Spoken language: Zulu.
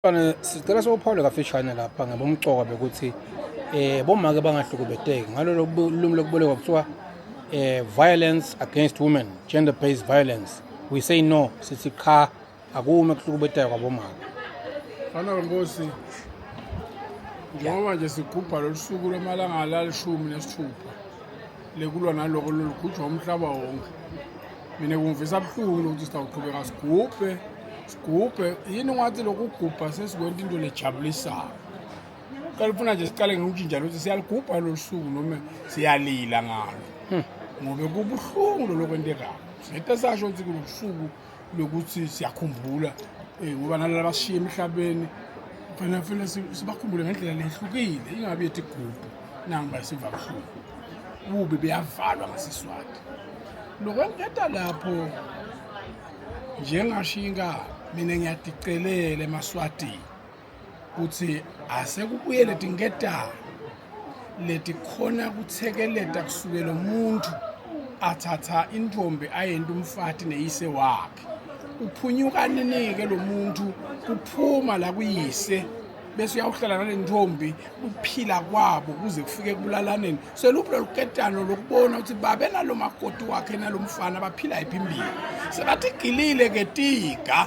Fane sicela sophawule kafishane lapha ngabomcoka bekuthi eh bomake bangahlukubeteki ngalolo lumi lokuboleka kuthiwa eh violence against women gender based violence we say no sithi cha akume kuhlukubeteka kwabomake fana nkosi njengoba nje sigubha lolu suku lwamalanga lalishumi nesithupha lekulwa naloko lolukhutshwa umhlaba wonke mina kungivisa buhlungu lokuthi sitawuqhubeka sigubhe sigubhe yini ungathi lokugubha sesikwenta into lejabulisayo qala ufuna nje siqale ngokutshintsha lokuthi siyaligubha lolu suku noma siyalila ngalo hmm. ngobe kubuhlungu loloko entekayo singete sasho ukuthi kulobusuku lokuthi siyakhumbula um ngoba nalala basishiye emhlabeni fanele fanele sibakhumbule ngendlela lehlukile ingabi yethi gubhu nangiba siva buhlungu bubi beyavalwa ngasiswati lokwengeta lapho njengashinga mina ngiyadicelela emaswatini kuthi asekubuye leti ngetalo leti khona kuthekeleta kusukela umuntu athatha intombi ayenta umfati neyise wakhe uphunyuka ninike lo muntu kuphuma la kuyise bese uyawuhlala nale ntombi uphila kwabo kuze kufike kubulalaneni seluphi lolu ketano lokubona ukuthi babe nalo makoti wakhe nalo mfana baphila yiphi impilo sebathi gilile ke tiga